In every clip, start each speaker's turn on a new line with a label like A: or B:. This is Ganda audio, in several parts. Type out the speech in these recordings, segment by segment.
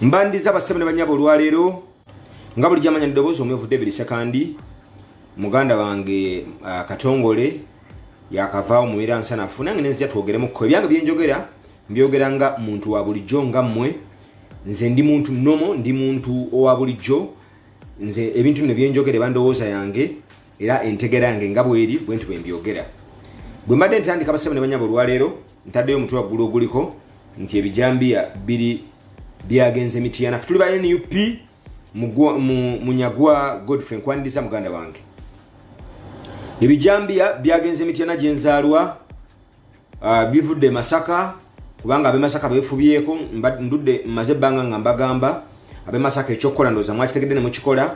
A: mbandiza basebo ne banyabo olwaleero nga buli jamanya ddoboozi omwevu david sekandi muganda wange uh, katongole yakavaawo mubeera nsanafu nange nenzija twogeremuko ebyange byenjogera mbyogera nga muntu wa bulijjo nga mmwe nze ndi muntu nomo ndi muntu owa bulijjo nze ebintu bino byenjogere bandowooza yange era entegera yange nga bweri bwe nti bwembyogera bwe mbadde ntandika basebo ne banyabo olwaleero ntaddeyo omutwe waggulu oguliko nti ebijambiya biri byagenze mitiyana fe tuli ba nup munyagwa godfrey nkwaniriza muganda wange ebijambiya byagenze mitiyana gyenzaalwa uh, bivudde masaka kubanga abemasaka befubyeko ndudde maze ebbanga nga mbagamba abemasaka ekyokukola ndoza mwakitegedde ne mukikola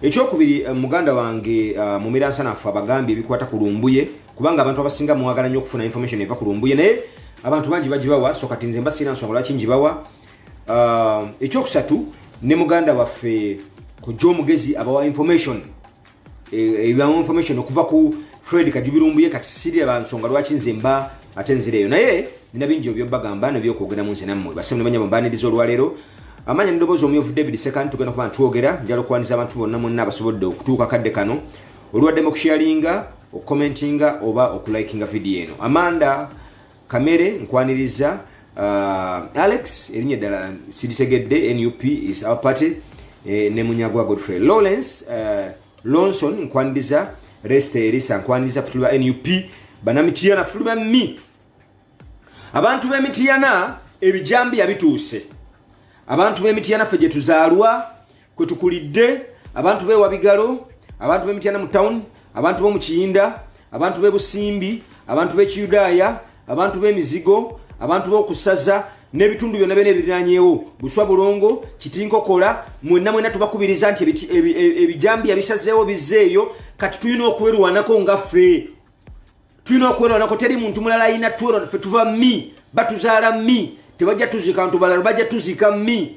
A: ekyokubiri eh, muganda wange uh, eh, mumiransanafu abagambye ebikwata ku lumbuye kubanga abantu abasinga mwagala nnyo okufuna information eva ku lumbuye naye abantu bangi bagibawa so kati nze mba sirina nsonga lwaki ngibawa uh, ekyokusatu ne muganda waffe kujja omugezi abawa information e, ebibamu e, information okuva ku fred kajubirumbuye kati siri abansonga lwaki nze mba ate nzireyo naye nina bingi obyobagamba nebyokwogeramu nze nammwe basemu nebanya bambaniriza olwaleero amanya nedoboozi omuyovu david sekan tugenda kuba ntwogera njala okukwaniza abantu bonna mwonna abasobodde okutuuka kadde kano olwaddemu okusharinga okukomentinga oba okulikinga vidiyo eno amanda kamere nkwaniriza uh, alex erinnya eddala siritegedde nup is our party eh, ne munyagwa godfrey lawrence uh, lonson nkwaniriza rest erisa nkwaniriza putuli ba nup banamitiyana putuli ba mi abantu b'emitiyana ebijambiya bituuse abantu b'emitiyana ffe gye tuzaalwa kwe tukulidde abantu bewa bigalo abantu b'e mityana mu town abantu b'omu kiyinda abantu b'e busimbi abantu b'ekiyudaaya abantu b'emizigo abantu b'okusaza n'ebitundu byonna byona ebiriranyewo buswa bulongo kitinkokola mwenna mwenna tubakubiriza nti ebijambiya bisazeewo bizzeeyo kati tulina okwerwanako nga ffe tulina okwerwanako teri muntu mulala ayina twerwana fe tuva mi batuzaala mi tebajja tuzika ntu balala bajja tuzika mi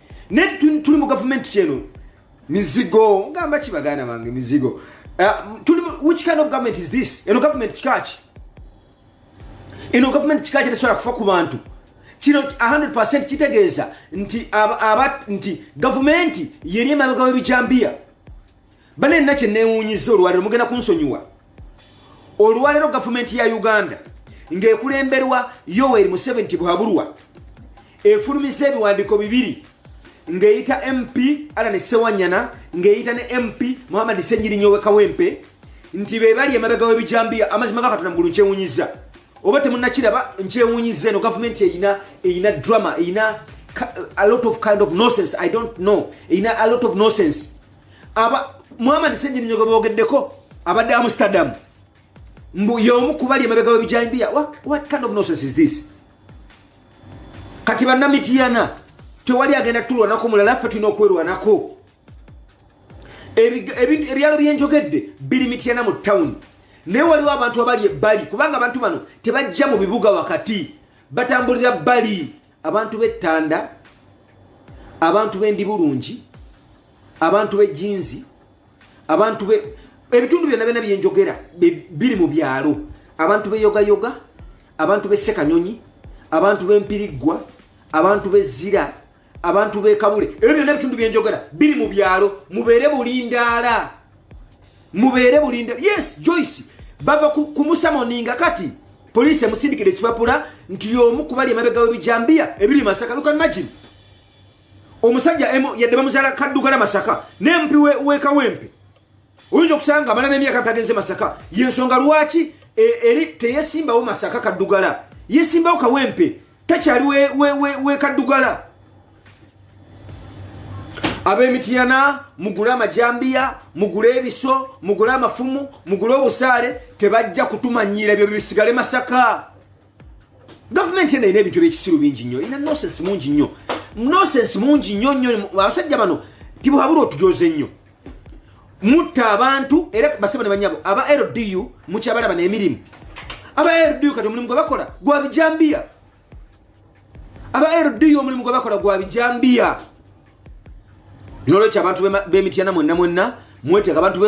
A: ne tuli mu gavumenti kyeno mizigo ngamba ki baganda bange mizigo eh, tuli which kind of government is this eno government kikaki eno government kikaki tesobola kufa ku bantu kino 100 kitegeeza nti aba nti gavumenti yeri emabega w'ebijambiya bane nina kye neewuunyiza olwaliro mugenda kunsonyiwa olwaleero gavumenti ya uganda ng'ekulemberwa yoweri museveni tibuhaburwa efulumiza ebiwandiiko bibiri ng'eyita mp alane sewanyana ng'eyita ne mp muhammadi senyirinya owekawempe nti be bali emabega w'ebijambiya amazima ga katonda mugulu nkyewunyiza oba temunakiraba nkyewunyiza eno gavumenti eyina eyina drama eyina a lot of kind of nosense i don't know eyina a lot of nosense muhammad senjirinyogo bogeddeko abadde amsterdam mbu yomu kubali emabega webijambiya what kind of nonsense is this kati banamitiyana tewali agenda tulwanako mulala ffe tulina okwerwanako ebyalo byenjogedde biri mityana mu tawuni naye waliwo abantu abali ebbali kubanga abantu bano tebajja mu bibuga wakati batambulira bbali abantu b'ettanda abantu b'endi bulungi abantu b'ejinzi abantu be ebitundu byonna byonna byenjogera biri mu byalo abantu beyogayoga abantu b'essekanyonyi abantu b'empiriggwa abantu b'ezzira abantu b'ekabule ebyo byonna ebitundu byenjogera biri mu byalo mubeere bulindaala mubeere bulinde yes joyce bava kumusamoninga kati poliisi emusindikira ekipapula nti yomu kubali emabega webijambiya ebiri masaka lukan magin omusajja yadde bamuzala kaddugala masaka nempi wekawempe oyinza okusanga amala nemyaka tagenze masaka yensonga lwaki e, eri teyesimbawo masaka kaddugala yesimbawo kawempe takyali wekaddugala we, we, we ab'emitiyana mugule amajambiya mugule ebiso mugule amafumu mugule obusaale tebajja kutumanyiira ebyo bisigale masaka gavumenti eno erina ebintu ebyekisiru bingi nnyo erina nosensi mungi nnyo nosensi mungi nnyo nnyo abasajja bano tibuhabula otujoze nnyo mutta abantu era basebo ne banyabo aba ldu mukyabalaba nemirimu aba ldu kati omulimu gwebakola gwa bijambiya aba ldu omulimu gwebakola gwa bijambiya nolwekyo abantu bemityana mwenna mwenna mweteka abantu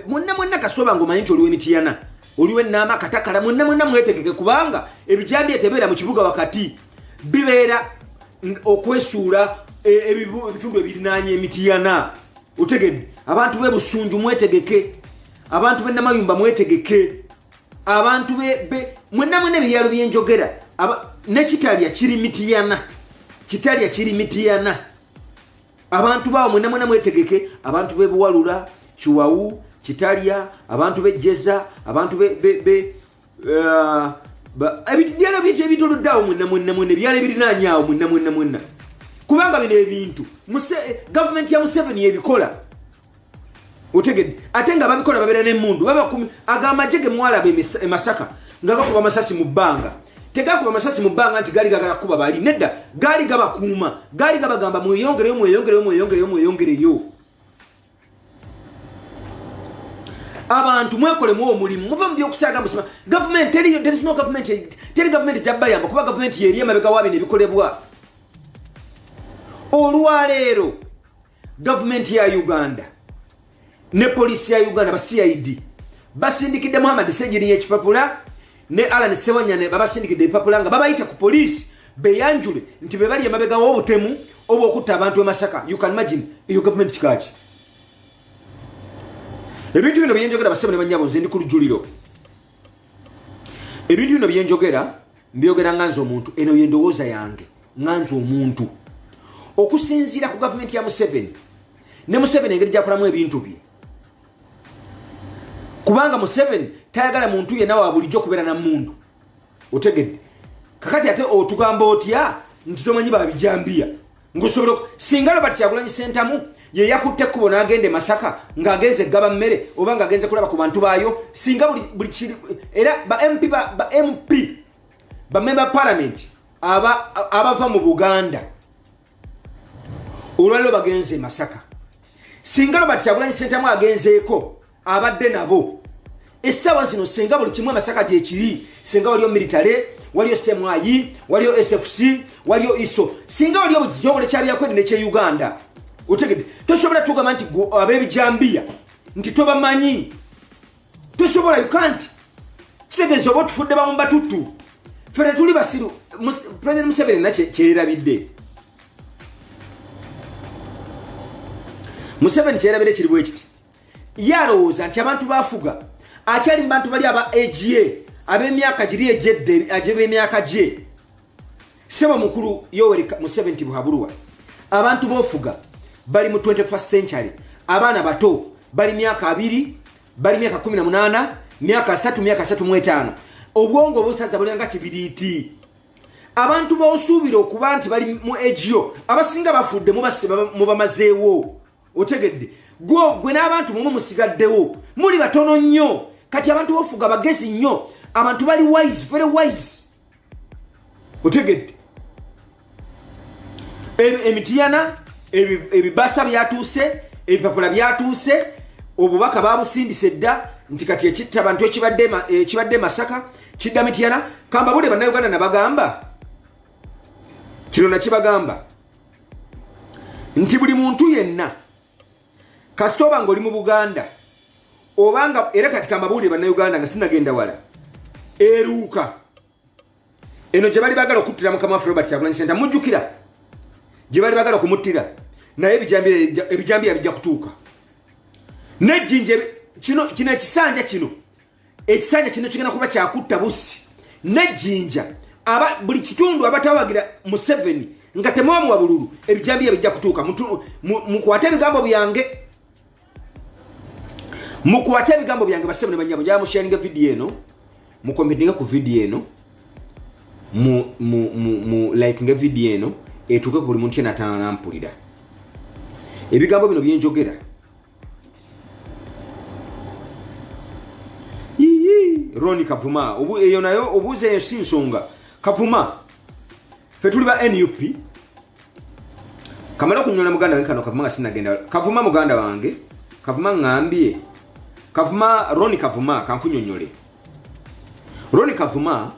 A: mwenna mwenna kasoba nga omanyi nti oliwo emityana oliwo enaama katakala mwenna mwenna mwetegeke kubanga ebijambiya tebeera mu kibuga wakati bibeera okwesuula e, ebitundu ebirinaanya emitiyana otegedde abantu be busunju mwetegeke abantu be namayumba mwetegeke abantu mwenamwena ebyalo byenjogera nekitalya kiri mitiyana kitalya kiri mitiyana abantu baawo mwena mwena mwetegeke abantu bebuwalula kiwawu kitalya abantu bejeza abantu uh, ebyalo byekyo ebitolodde awo mwena mwena mwena ebyalo ebirinaanya awo mwena mwena mwena kubanga bino ebintu gavumenti ya museveni ebikola otegedde ate nga babikola babeera nemundu agamaje gemwalaba emasaka nga gakuba amasasi mu bbanga tegakuba amasasi mu bbanga nti gaali gagala kukuba bali nedda gaali gabakuuma gaali gabagamba mweyongereyo mweyongereyo mweyongereyo mweyongereyo abantu mwekolemu omulimu muve mubyokusaaga musima gavumenti teriyo there is no government teri gavumenti jabbayamba kuba gavumenti yeri emabega wa bino ebikolebwa olwaleero gavumenti ya uganda ne polisi ya uganda ba cid basindikidde muhammad sejiri yekipapula ne Alan Sewanyane babasindikidde ebipapula nga babayita ku poliisi beyanjule nti be bali emabega w'obutemu oba okutta abantu e Masaka you can imagine eyo gavumenti kikaaki ebintu bino byenjogera basebo ne banyabo nze ndi ku lujuliro ebintu bino byenjogera mbyogera nga nze omuntu eno yendowooza yange nga nze omuntu okusinziira ku gavumenti ya museveni ne museveni engeri gyakolamu ebintu bye kubanga museveni tayagala muntu yena wa bulijjo kubeera na mundu otegedde kakati ate otugamba otya nti tomanyi babijambiya ngosobola singa lobert kyagulanyi sentamu yeyakutte ekkubo n'agenda e masaka ng'agenze eggaba mmere oba ng'agenze kulaba ku bantu baayo singa buli kiri era ba mp ba mp bamemba palamenti abava mu buganda olwaliro bagenze e masaka singa robert kyagulanyi sentamu agenzeeko abadde nabo essaawa zino singa buli kimu amasaka gyekiri singa waliyo military waliyo semwayi waliyo sfc waliyo iso singa waliyo bukitongole kyabyakwedi nekye uganda otegede tosobola tugamba nti abebijambiya nti tobamanyi tosobola you can't kitegeeza oba otufudde bawumba tuttu fe tetuli basiru president museveni na kyerabidde museveni kyerabidde kiri bwekiti ye alowooza nti abantu bafuga akyali mu bantu bali aba aga ab'emyaka giri egyedde agyeb'emyaka gye sebo mukulu yoweri museveni tibuhabulwa abantu bofuga bali mu 21 century abaana bato bali myaka abiri bali myaka 18 myaka 3 myaka 35 obwongo obusaza bulanga kibiriiti abantu bosuubira okuba nti bali mu egio abasinga bafudde mubamazeewo otegedde gwe n'abantu mumu musigaddewo muli batono nnyo kati abantu bofuga bagezi nnyo abantu bali wise very wise otegedde emitiyana ebibasa byatuuse ebipapula byatuuse obubaka babusindisa edda nti kati ekitta bantu ekibadde e, masaka kidda mitiyana kambabule bannayuganda nabagamba kino nakibagamba nti buli muntu yenna kasita oba nga oli mu buganda obanga era kati kamabuulire bannayuganda nga sinagenda wala eruuka eno gye bali bagala okuttira mukama waffe robert kyagulanyi senta mujjukira gye bali bagala okumuttira naye ebijambiya bijja kutuuka nejjinja kino ekisanja kino ekisanja kino kigenda kuba kyakutta busi nejjinja aba buli kitundu abatawagira museveni nga temwamuwa bululu ebijambiya bijja kutuuka mukwate ebigambo byange mukwate ebigambo byange basebo ne banyabo njaa musharinga vidiyo eno mukometinge ku vidiyo eno mu likinga vidiyo eno etuuke ku buli muntu yenatana nampulira ebigambo bino byenjogera roni kavuma eyo nayo obuuza eyo si nsonga kavuma fe tuli ba nup kamala okunyola muganda wange kano kavuma nga sinagenda kavuma muganda wange kavuma ngambye kavuma roni kavuma kankunyonyole roni kavuma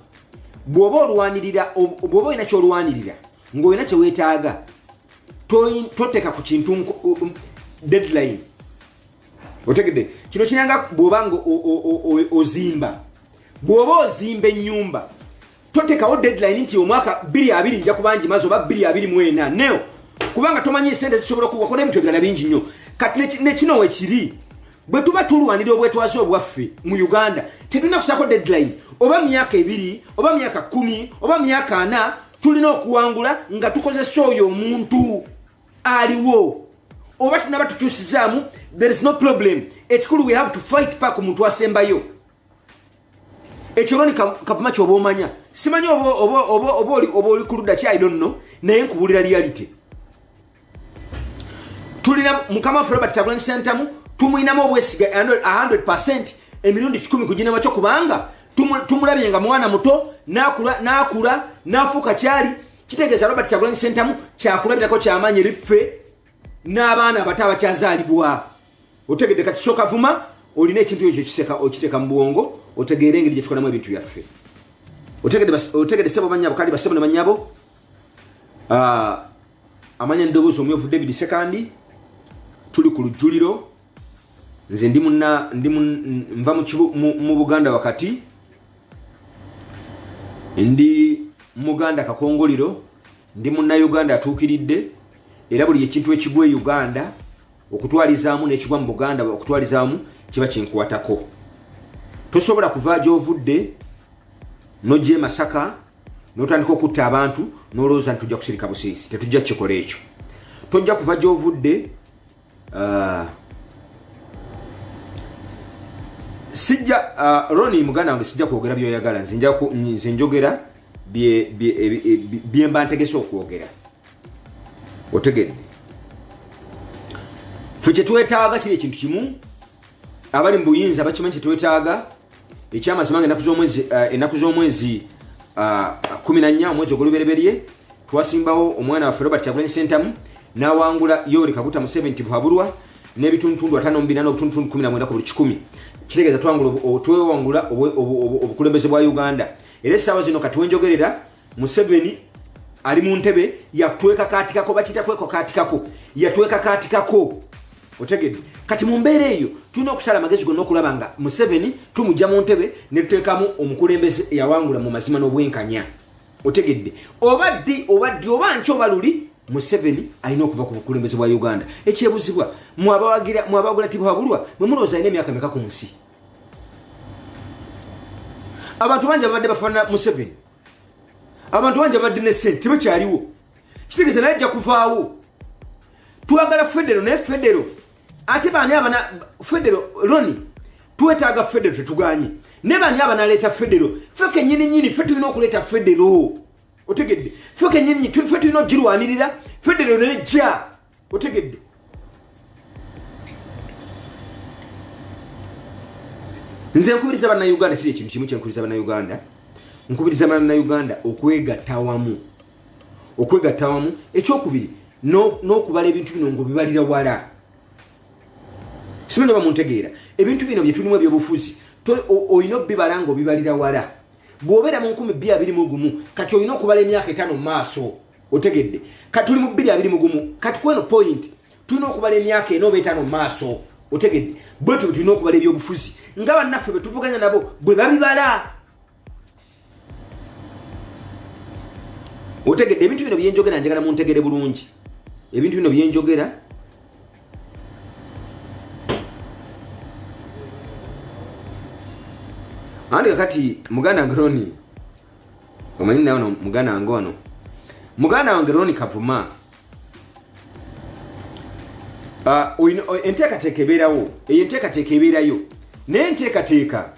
A: bwoba olwanirira bwoba olina kyolwanirira ngaolina kyewetaaga toteka ku kintu um, deadline otegedde kino kiranga bwoba nga ozimba bwoba ozimba enyumba totekawo deadline nti omwaka 22 nja kubangi mazi oba 224 neo kubanga tomanyi esente zisobola okuwakona ebintu ebirala bingi nnyo kati nekino wekiri bwe tuba tulwanira obwetwaze obwaffe mu uganda tetulina kusako deadline oba myaka ebiri oba myaka kumi oba myaka ana tulina okuwangula nga tukozesa oyo omuntu aliwo oba tunaba tukyusizaamu there is no problem ekikulu we have to fight park omuntu asembayo ekyo loni kavuma kyoba omanya simanyi oba oli ku ludda ki i don't know naye nkubulira reality tulina mukama waffe robert kyagulanyi sentamu tumulinamu obwesiga 100 emirundi kikumi ku ginema kyo kubanga tumulabye nga mwana muto nakula nakula nafuuka kyali kitegeeza robert kyagulanyi sentamu kyakulabirako kyamaanyi eri ffe n'abaana abato abakyazaalibwa otegedde kati soka vuma olina ekintu ekyo kiseka okiteeka mu bwongo otegeere engeri gyetukolamu ebintu byaffe otegedde sebo banyabo kandi basebo ne banyabo ah, amanya eddoboozi omyovu david sekandi tuli ku lujjuliro nze ndi muna ndi nva mu buganda wakati ndi muganda kakongoliro ndi munnayuganda atuukiridde era buli ekintu ekigwa e uganda okutwalizaamu n'ekigwa mu buganda okutwalizaamu kiba kinkwatako tosobola kuva gyovudde nojja e masaka notandika okutta abantu nolowooza nti tujja kusirika busirisi tetujja kukikola ekyo tojja kuva gyovudde uh, sijja uh, roni muganda wange sijja kwogera byoyagala nze njogera byemba ntegese okwogera otegedde fe kyetwetaaga kiri ekintu kimu abali mu buyinza bakimanyi kyetwetaaga ekyamazima nga ennaku eh, z'omwezi ah, kumi na nnya omwezi ogulubereberye twasimbawo omwana waffe robert kyagulanyi sentamu n'awangula yoweri kaguta museveni tibuhabulwa n'ebitundutundu ataano mu bina n'obutundutundu kumi na mwenda ku buli kikumi kitegeeza twewangula obukulembeze bwa uganda era essaawa zino kati wenjogerera museveni ali mu ntebe yatwekakatikako bakita kwekakatikako yatwekakatikako otegedde kati mu mbeera eyo tulina okusala amagezi gonna okulaba nga museveni tumugya mu ntebe netuteekamu omukulembeze eyawangula mu mazima n'obwenkanya otegedde oba ddi oba ddi oba nki oba luli museveni alina okuva ku bukulembeze bwa uganda ekyebuzibwa mwabawagula tibwabulwa mwemulowooza alina emyaka meka ku nsi abantu bangi ababadde bafaanana museveni abantu bangi ababadde ne sente tebakyaliwo kitegeeza naye ajja kuvaawo twagala federo naye federo ate baani abana federo loni twetaaga federo tetuganye naye baani abanaleeta federo fe kenyini nyini fe tulina okuleeta federo otegedde fe kenyini fe tulina okugirwanirira federo nene jja otegedde nze nkubiriza bannayuganda kiri ekintu kimu kyenkubiriza bannayuganda nkubiriza bannayuganda okwegatta wamu okwegatta wamu ekyokubiri n'okubala ebintu bino ngaobibalira wala simanyi oba muntegeera ebintu bino byetulimu ebyobufuzi olina obibala nga obibalira wala bw'obeera mu nkumi bbi abiri mu gumu kati olina okubala emyaka etaano mu maaso otegedde kati tuli mu bbiri abiri mugumu kati kweno point tulina okubala emyaka ena oba etaano mu maaso otegedde bwe tubi tulina okubala ebyobufuzi nga bannaffe bwe tuvuganya nabo bwe babibala otegedde ebintu bino byenjogera njagala muntegere bulungi ebintu bino byenjogera andi kakati muganda ngroni omanyi naye ono muganda wange ono muganda wange roni kavuma ah, enteekateeka ebeerawo eyo enteekateeka ebeerayo naye enteekateeka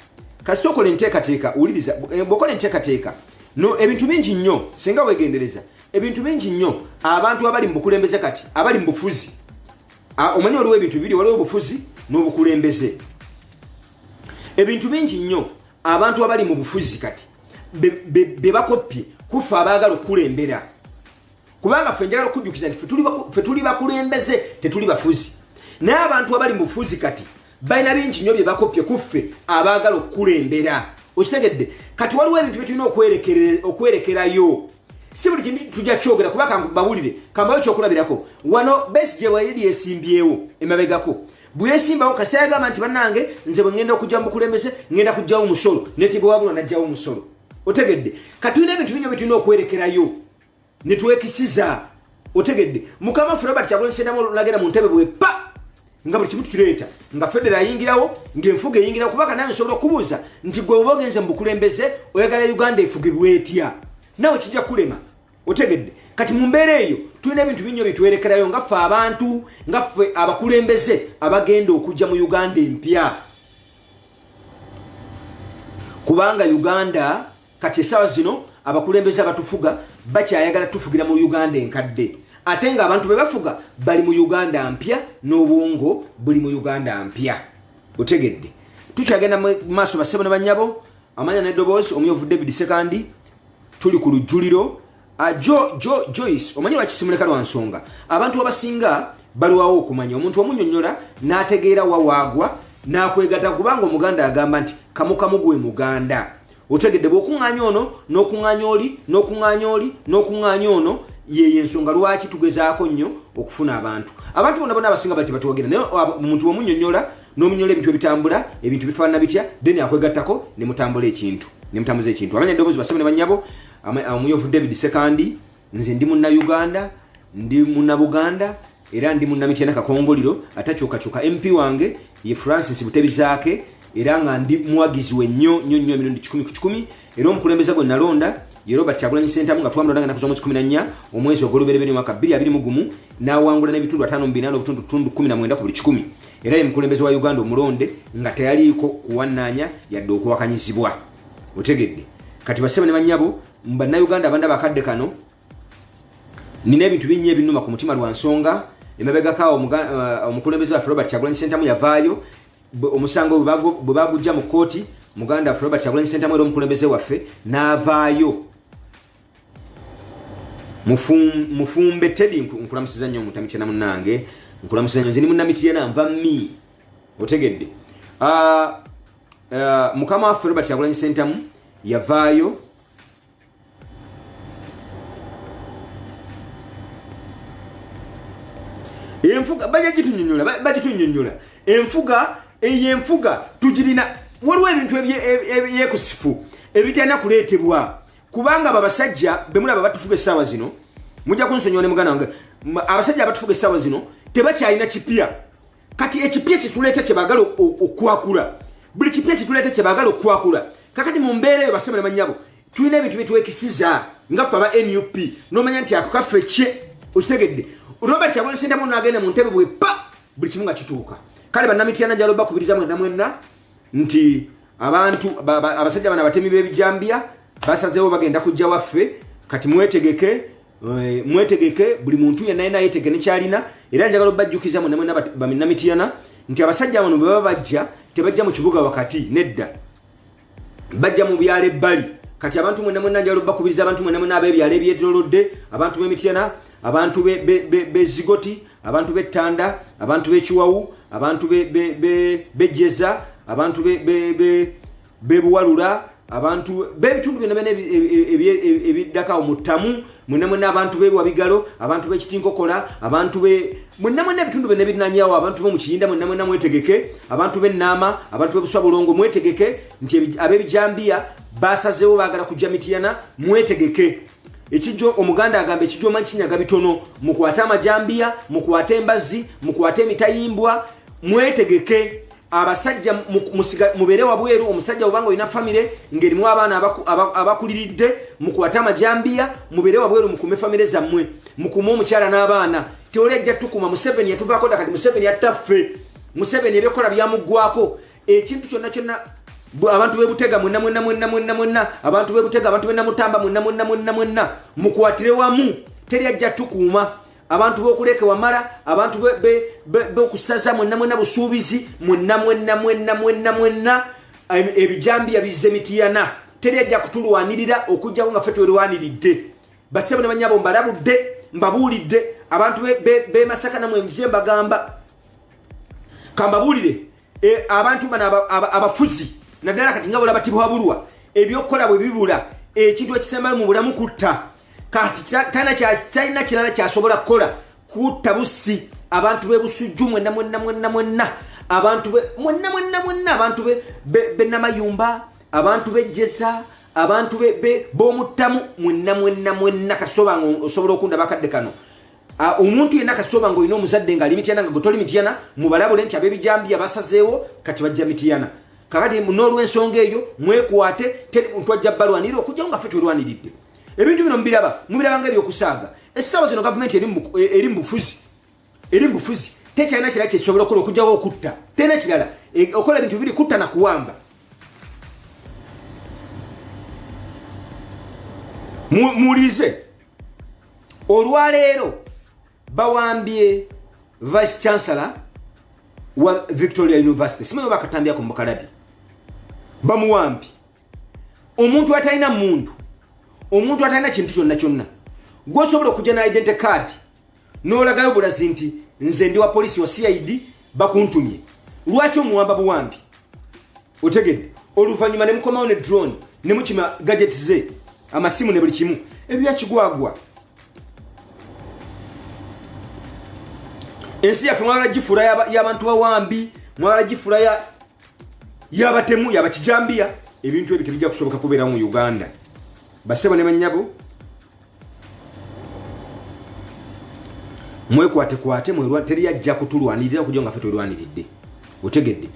A: kasita okola enteekateeka wuliriza eh, bwokola enteekateeka no ebintu bingi nnyo singa wegendereza ebintu bingi nnyo abantu abali mu bukulembeze kati abali mu bufuzi ah, omanyi waliwo ebintu bibiri waliwo obufuzi n'obukulembeze ebintu bingi nnyo abantu abali mu bufuzi kati be bakoppye kuffe abaagala okukulembera kubanga ffe njagala okujjukiza nti fe tuli bakulembeze tetuli bafuzi naye abantu abali mu bufuzi kati balina bingi nnyo bye bakoppye kuffe abaagala okukulembera okitegedde kati waliwo ebintu byetulina okwerekerayo si buli kintu tujja kyogera kuba kangubawulire kambayo kyokulabirako wano besi gye wayiri esimbyewo emabegako bweyesimbawo kasita yagamba nti banange nze bwe ngenda okujja mubukulembeze ngenda kujjawo omusolo netiba wabula najjawo omusolo otegedde katulina ebintu binyo byetulina okwerekerayo netwekisiza otegedde mukama ffe robert kyagulanyisendamu olunagenda mu ntebe bwe pa nga buli kimu tukireeta nga federo ayingirawo ngaenfuga eyingirawo kubaka naye nsobola okubuuza nti gwe oba ogenze mu bukulembeze oyagala uganda efugibwa etya nawe kijja kulema otegedde kati mu mbeera eyo tulina ebintu binnyo bitwerekerayo nga ffe abantu nga ffe abakulembeze abagenda okujja mu uganda empya kubanga uganda kati esawa zino abakulembeze abatufuga bakyayagala tufugira mu uganda enkadde ate nga abantu be bafuga bali mu uganda mpya n'obwongo buli mu uganda mpya otegedde tukyagenda mu maaso basebo ne banyabo amanya nedoboozi omuyovudde bidisekandi tuli ku lujjuliro ah, jo jo joyce omanyi lwaki simuleka lwa nsonga abantu abasinga baliwawo okumanya omuntu omunyonyola n'ategeera wawaagwa n'akwegata kubanga omuganda agamba nti kamukamu gwe muganda otegedde bwokuŋŋaanya ono n'okuŋŋaanya oli n'okuŋŋaanya oli n'okuŋŋaanya ono yeyo ensonga lwaki tugezaako nnyo okufuna abantu abantu bona bona abasinga bali tebatuwagira naye omuntu omunyonyola n'omunyola ebintu ebitambula ebintu bifaanana bitya then akwegattako ne mutambula ekintu ne mutambuza ekintu amanya eddoboozi basebo ne bannyabo omuyovu david sekandi nze ndi munna uganda ndi munna buganda era ndi munna mityana kakongoliro atakyukakyuka mp wange ye francis butebizaake era nga ndi muwagizi we nnyo nnyo nnyo emirundi kikumi ku kikumi era omukulembeze gwe nalonda ye robert kyagulanyi sentamu nga twamulonda nga nakuza mu kikumi na nnya omwezi ogw'olubereberye omwaka bbiri abiri mu gumu n'awangula n'ebitundu ataano mu bina n'obutundu tundu kumi na mwenda ku buli kikumi era ye mukulembeze wa uganda omulonde nga teyaliiko kuwannaanya yadde okuwakanyizibwa otegedde kati basebo ne banyabo bannayuganda abanda bakadde kano nina ebintu binnya ebinuma ku mutima lwa nsonga emabegakaawo uh, omukulembeze waffe robert kyagulanyi sentamu yavaayo omusango bwe bagujja mu kkooti muganda waffe robert kyagulanyi sentamu era omukulembeze waffe n'avaayo mufumbe tedi nkulamusiza nnyo mutamityana munange nkulamusiza nnyo nze ni munamityana nva mi otegedde ah, ah, mukama waffe robert kyagulanyi sentamu yavaayo enfuga bajja gitunyonyola bajja tunyonyola enfuga eyo enfuga tugirina waliwo ebintu ebyekusifu ebitalina kuleetebwa kubanga babasajja bemulaba batufuga essaawa zino mujja kunsonyiwa ne muganda wange abasajja abatufuga essaawa zino tebakyalina kipya kati ekipya kyetuleeta kyebagala okwakula buli kipya kyetuleeta kyebagala okwakula kakati mu mbeera eyo basabala manyabo tulina ebintu byetwekisiza nga fe aba nup nomanya nti ako kaffe kye okitegedde robert kyagwani sentamu nagenda mu ntebe bwe pa buli kimu nga kituuka kale banamityana njalo bakubiriza mwena mwena nti abantu abasajja bana batemi bebijambiya basazewo bagenda kujja waffe kati mwetegeke Eh, mwetegeke buli muntu yenna yena yetege nekyalina era njagala obajjukiza mwe namwe namitiyana nti abasajja bano bwebaba bajja tebajja mu kibuga wakati nedda bajja mu byalo ebbali kati abantu mwena mwena njagala obakubiriza abantu mwena mwena abebyalo ebyetolodde abantu bemityana abantu bezigoti abantu bettanda abantu bekiwawu abantu bejeza abantu bebuwalula abantu bebitundu byona byona ebiddakawo mu ttamu mwena mwena abantu bewa bigalo abantu bekitinkokola abantu be mwena mwena ebitundu byona ebirinanyawo abantu be mukiyinda mwena mwena mwetegeke abantu benaama abantu bebuswa bulongo mwetegeke nti abebijambiya basazewo bagala kujja mitiyana mwetegeke ekijo omuganda agamba ekijo manyi kinyaga bitono mukwate amajambiya mukwate embazzi mukwate emitayimbwa mwetegeke abasajja mubeere wabweru omusajja obanga olina famire ngaerimu abaana abakuliridde mukwate amajambiya mubeere wabweru mukume famire zammwe mukume omukyala n'abaana teoli ajja tukuma museveni yatuvaako dakati museveni yattaffe museveni ebyokukola byamuggwako ekintu kyonna kyonna abantu bebutega mwenna mwenna mwenna mwenna mwenna abantu bebutega abantu benamutamba mwenna mwenna mwenna mwenna mukwatire wamu teri ajja tukuuma abantu bokuleke wamala abantu bokusaza mwenna mwenna busuubizi mwenna mwenna mwenna mwenna mwenna ebijambiya bizza emitiyana teri ajja kutulwanirira okujjako nga fe twerwaniridde basebo ne banyabo mbalabudde mbabuulidde abantu bemasaka namwe mze mbagamba kambabuulire E, abantu bano abafuzi naddala kati nga bolaba tibwabulwa ebyokukola bwe bibula ekintu ekisembayo mu bulamu kutta kati talina kirala kyasobola kukola kutta busi abantu bebusujju mwenna mwenna mwenna mwenna abantu mwenna mwenna mwenna abantu benamayumba abantu bejjesa abantu bomuttamu mwenna mwenna mwenna kasobanga osobola okunda bakadde kano Ah, omuntu yenna kasitoba ngaolina omuzadde ngaali mityana nga gwetoli mityana mubalabule nti abebijambiya basazeewo kati bajja mityana kakati n'olwensonga eyo mwekwate twajja balwanirira okujjao nga fe twelwaniridde ebintu bino mubiraba mubiraba nga ebyokusaaga essaawa zino gavumenti eri e, mubufuzi eri mubufuzi tekyalina kira kyekisobola okukola okujjawo okutta terina kirala e, okola ebintu bibiri kutta na kuwamba muwulirize mu, olwaleero bawambye vice chancellor wa victoria university simanyi bakatambyako mukalabi bamuwambi omuntu atalina muntu omuntu atalina kintu kyonna kyonna gwosobola okujja na identity card n'olagayo bulazi nti nze ndi wa poliisi wa cid bakuntumye lwaki omuwamba buwambi otegedde oluvannyuma ne mukomawo ne drone ne mukima gadget ze amasimu ne buli kimu ebyakigwagwa ensi yaffe mwala gifuula y'abantu bawambi mwala gifuula y'abatemu yabakijambiya ebintu ebyo tebijja kusoboka kubeerawo mu uganda basebo ne banyabo mwekwatekwate mwerwa teri ajja kutulwanirira okuja nga fe twelwaniridde otegedde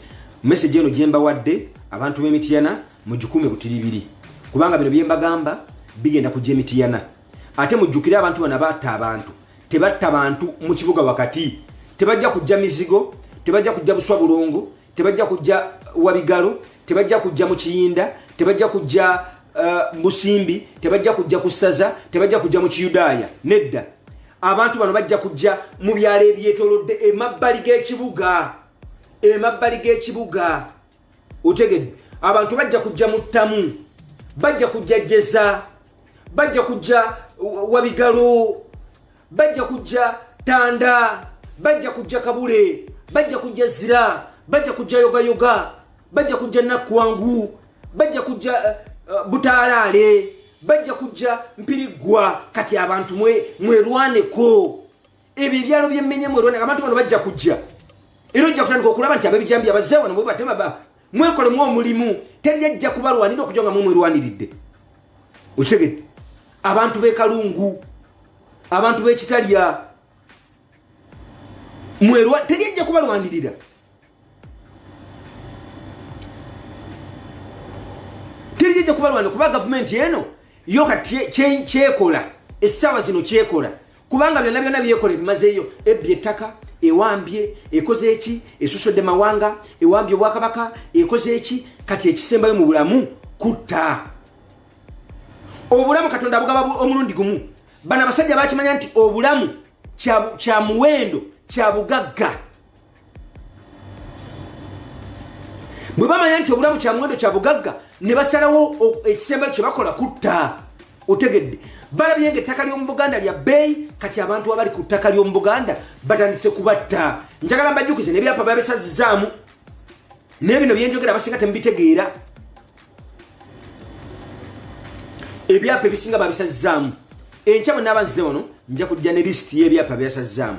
A: message eno gyembawadde abantu b'emitiyana mugikume butiribiri kubanga bino byembagamba bigenda kujja emitiyana ate mujjukire abantu bana batta abantu tebatta bantu mu kibuga wakati tebajja kujja mizigo tebajja kujja buswa bulongo tebajja kujja wabigalo tebajja kujja mu kiyinda tebajja kujja uh, musimbi tebajja kujja ku ssaza tebajja kujja mu kiyudaaya nedda abantu bano bajja kujja mu byalo ebyetolodde emabbali g'ekibuga emabbali g'ekibuga otegedde abantu bajja kujja mu ttamu bajja kujja jeza bajja kujja wabigalo bajja kujja tanda bajja kujja kabule bajja kujja zira bajja kujja yogayoga bajja kujja nakkwangu bajja kujja uh, eh, eh, butaalaale bajja kujja mpiriggwa kati abantu mwerwaneko ebyo ebyalo byemmenya mwerwaneko abantu bano bajja kujja era ojja kutandika okulaba nti abebijambi abazze wano bwebatema mwekolemu omulimu teri ajja kubalwanira okuja nga mumwerwaniridde okitegedde abantu bekalungu abantu bekitalya mwerwa teri ajja kubalwanirira teri ajja kubalwanira kuba gavumenti eno yo kati kyekola essaawa zino kyekola kubanga byonna byonna byekola ebimazeeyo ebbye ettaka ewambye ekoze eki esusodde mawanga ewambye obwakabaka ekoze eki kati ekisembayo mu bulamu kutta obulamu katonda abugaba omulundi gumu bano abasajja bakimanya nti obulamu kya muwendo kya bugagga bwe bamanya nti obulamu kya muwendo kya bugagga ne basalawo ekisembayo kye bakola kutta otegedde balabye nga ettaka ly'omu buganda lya bbeeyi kati abantu abali ku ttaka ly'omu buganda batandise kubatta njagala mbajjukize nebyapa babisazizaamu naye bino byenjogera abasinga temubitegeera ebyapa ebisinga babisazizaamu enkya bwe naaba nze ono nja kujja ne lisiti y'ebyapa byasazizaamu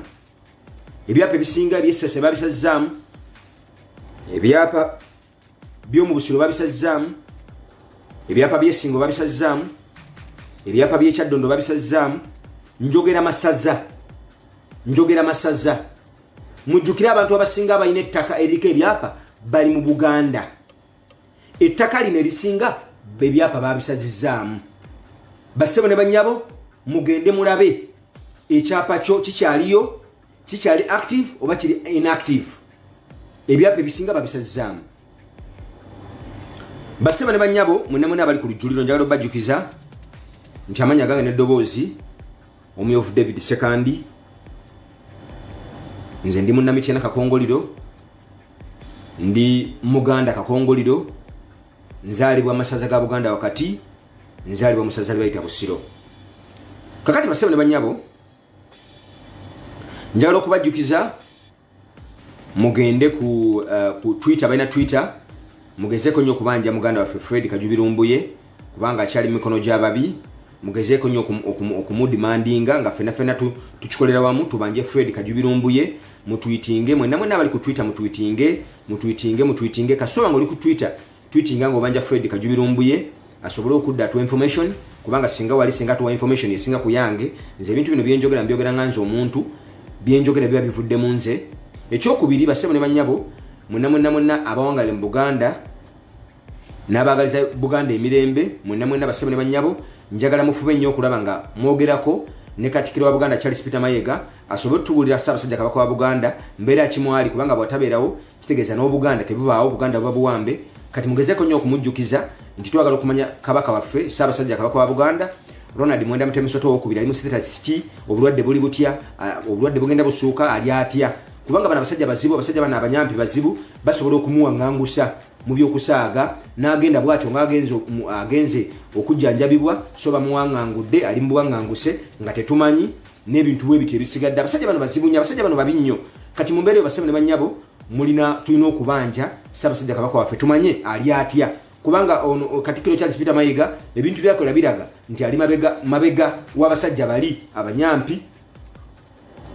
A: ebyapa ebisinga ebyessase babisazzaamu ebyapa byomu busiro babisazzaamu ebyapa byesingo babisazzaamu ebyapa byekyaddondo babisazzaamu njogera masaza njogera masaza mujjukire abantu abasinga abalina ettaka eriko ebyapa bali mu buganda ettaka lino erisinga bebyapa babisazizaamu bassebo ne banyabo mugende mulabe ekyapa kyo kikyaliyo kikyali active oba kiri inactive ebyapa ebisinga babisazizaamu bassebo ne banyabo mwena mwena abali ku lujjuliro njagala obajjukiza nti amanya gange neddoboozi omuyoofu david sekandi nze ndi munnamityana kakongoliro ndi muganda kakongoliro nzaalibwa masaza ga buganda wakati nzaalibwa musaza libayita busiro kakati basebo ne banyabo njagala okubajjukiza mugende ku, uh, ku twitter balina twitter mugezeko nnyo okubanja muganda waffe fred kajubirumbuye kubanga akyali mu mikono gy'ababi mugezeeko nnyo okumudimandinga nga fena fena tukikolera wamu tubanje fred kajubirumbuye mutwitinge mwena mwena abali ku twitter mutwitinge mutwitinge mutwitinge kasooba nga oli ku twitter twitinga nga obanja fred kajubirumbuye asobole okudda atuwa information kubanga singa wali singa tuwa information esinga ku yange nze ebintu bino byenjogera mbyogera nga nze omuntu byenjogera biba bivudde mu nze ekyokubiri basebo ne banyabo mwena mwena mwena abawangalire mu buganda n'abaagaliza buganda emirembe mwenna mwenna bassebo ne bannyabo njagala mufube nnyo okulaba nga mwogerako ne katikiro wa buganda charles peter mayega asobole otutubuulira ssaabasajja kabaka wa buganda mbeera kimwali kubanga bwatabeerawo kitegeeza n'obuganda tebubaawo buganda buba buwambe kati mugezeko nnyo okumujjukiza nti twagala okumanya kabaka waffe ssaabasajja kabaka wa buganda ronald mwenda mutemusoto owokubiri ali musiteta kiki obulwadde buli butya obulwadde bugenda busuuka ali atya kubanga bano abasajja bazibu abasajja bano abanyampi bazibu basobola okumuwaŋangusa mu by'okusaaga n'agenda bw'atyo ng'agenze agenze okujjanjabibwa so bamuwangangudde ali mu buwanganguse nga tetumanyi n'ebintu bwe biti ebisigadde abasajja bano bazibu nnyo abasajja bano babi nnyo kati mu mbeera eyo basebo ne bannyabo mulina tulina okubanja ssaabasajja kabaka waffe tumanye ali atya kubanga ono katikkiro charles peter mayiga ebintu byakola biraga nti ali mabega mabega w'abasajja bali abanyampi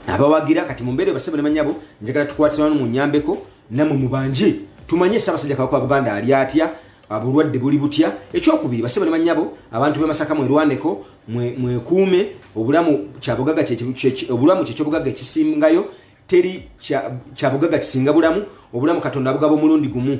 A: abawagira kati mumbeere basebo ne banyabo njagala tukwatiramu munyambeko namwe mubanje tumanye sabasajja kabaka wa buganda ali atya abulwadde buli butya ekyokubiri basebo ne banyabo abantu bemasaka mwerwaneko mwekuume obulamu kyabugaga obulamu kyekyobugaga ekisingayo teri kyabugaga kisinga bulamu obulamu katonda abugaba omulundi gumu